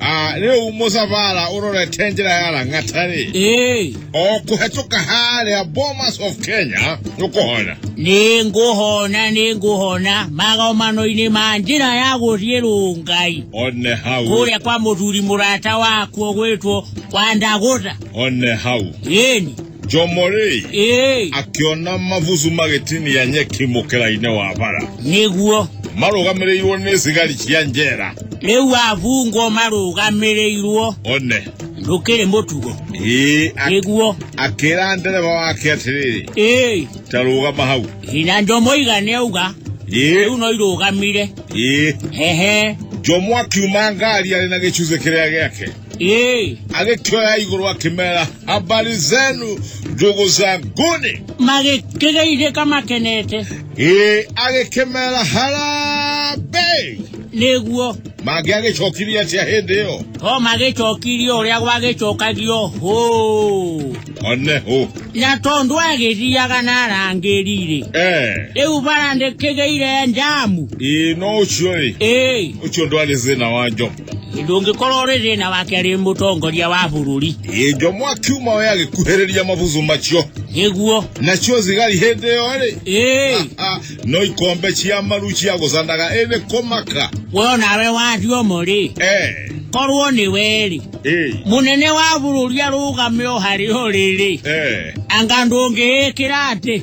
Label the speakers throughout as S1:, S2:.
S1: Ah, rä u må cabara å rorete njä ra ya rangatarä Ĩĩ, o kå hetå ka harä a bomas of kenya nä å kå hona nĩ ngũhona nĩ ngũhona magomano-inĩ ma njĩra ya gũthiĩ rũngai one hau kũrĩa kwa mũthuri mũrata wakuo gwĩtwo kwa ndagũtha one hau ĩni njomorĩ ĩĩ akĩona mabucu magĩtinia nyeki mũkĩra-inĩ wa bara nĩguo marũgamĩrĩirwo nĩ cigari cia njera rĩu abungwo marũgamĩrĩirwo one ndũkĩrĩ mũtugo ĩĩ ak- nĩguo akĩra ndereba wake atĩrĩrĩ ĩĩ ta rũgama hau na njomo igane auga rĩu ĩĩ no irũgamire ĩĩ hehe njomo akiuma ngari arĩ na gĩcunjĩ kĩrĩa gĩake Hey, agĩkioya igũrũ akĩmera habari zenu ndugu zanguni magĩkĩgeithĩ kamakenete ĩ agĩkĩmera harambei nĩguo mangĩ agĩcokirie atĩa hĩndĩ ĩyo o magĩcokirie ũrĩa gwagĩcokagio hũ one hũ na tondũ agĩthiaga na arangĩri-rĩ Eh, rĩu bara ndĩkĩgĩire njamu ĩ no ũcio rĩ ĩĩ ũcio ndwarĩ thĩna wa njo ndũngĩkorwo rĩ thĩna wake rĩ mũtongoria wa bũrũri ĩnjo mwaki uma we agĩkuhĩrĩria mabuzu macio nĩguo nacio thigari hĩndĩ ĩyo rĩ ĩĩ Ah, no ikombe cia maru cia gũcanaga ĩnĩ kũmaka we nawe wathiomo rĩ Eh, korwo nĩ werĩ eh, mũnene wa bũrũri arũgame o harĩ o rĩrĩ eh. anga ndũngĩĩkĩra atĩ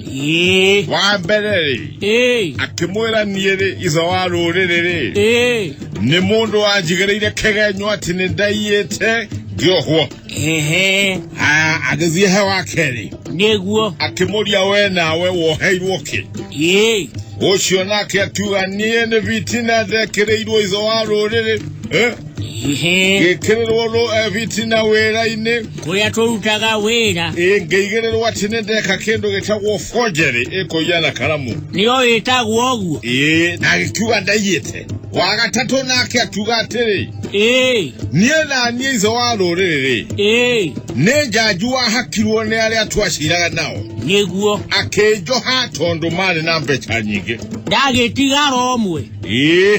S1: ĩĩ wa mbere rĩ ĩĩ akĩmwĩra niĩ rĩ ithe wa rũrĩrĩ rĩ ĩĩ nĩ mũndũ wanjigĩrĩire kĩgenyo atĩ nĩ ndaiyĩte ngĩohwo ehe Ah, agĩthiĩ he wa kerĩ nĩguo akĩmũria we nawe woheirwo kĩ ĩĩ ũcio nake akiuga niĩ nĩ bitina ndekĩrĩirwo ithe wa rũrĩrĩ eh? ngĩkĩrĩrwo rũ ebiti na wĩra-inĩ kũrĩa tũrutaga wĩra ngĩigĩrĩrwo atĩ nĩ ndeka kĩndũ gĩtagwo forgery ĩkũiya na karamu nĩyo ĩtagwo ũguo ĩĩ na agĩkiuga ndaiyĩte wa gatatũ nake akiuga atĩrĩ ĩĩ niĩ na niĩ ithe wa rũrĩrĩ ĩĩ nĩ njanju wahakirwo nĩ arĩa twaciraga nao nĩguo akĩnjoha tondũ marĩ na mbeca nyingĩ ndagĩtigara ũmwe ĩĩ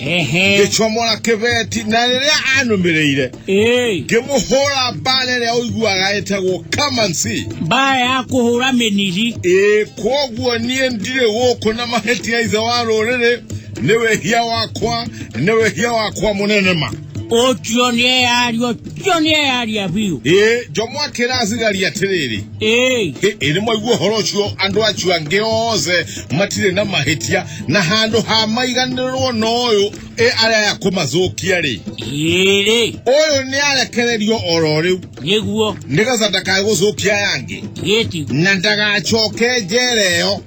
S1: ehe ngĩcomora kĩbeti na rĩrĩa anũmĩrĩire ĩĩ ngĩmũhũra mbara ĩrĩa ũiguaga ĩtagwo kamansi mbaa ya kũhũra mĩniri ĩĩ kwoguo niĩ ndirĩ gũkũ na mahĩtia ithe wa rũrĩrĩ nĩ wĩhia wakwa nĩ wĩhia wakwa mũnene ma ũcio nĩ eyari ũcio nĩ eyaria biũ ĩ njomo akĩra athigari atĩrĩrĩ ĩĩ ĩ nĩ mwaigua ũhoro ũcio andũ acio angĩ othe matirĩ na mahĩtia na handũ ha maiganĩrwo na ũyũ ĩ arĩa aya kũmathũkia rĩ ĩrĩ ũyũ nĩ arekererio oro rĩu nĩguo nĩgetha ndakae gũthũkia aya angĩ gĩti na ndagacoke njera ĩyo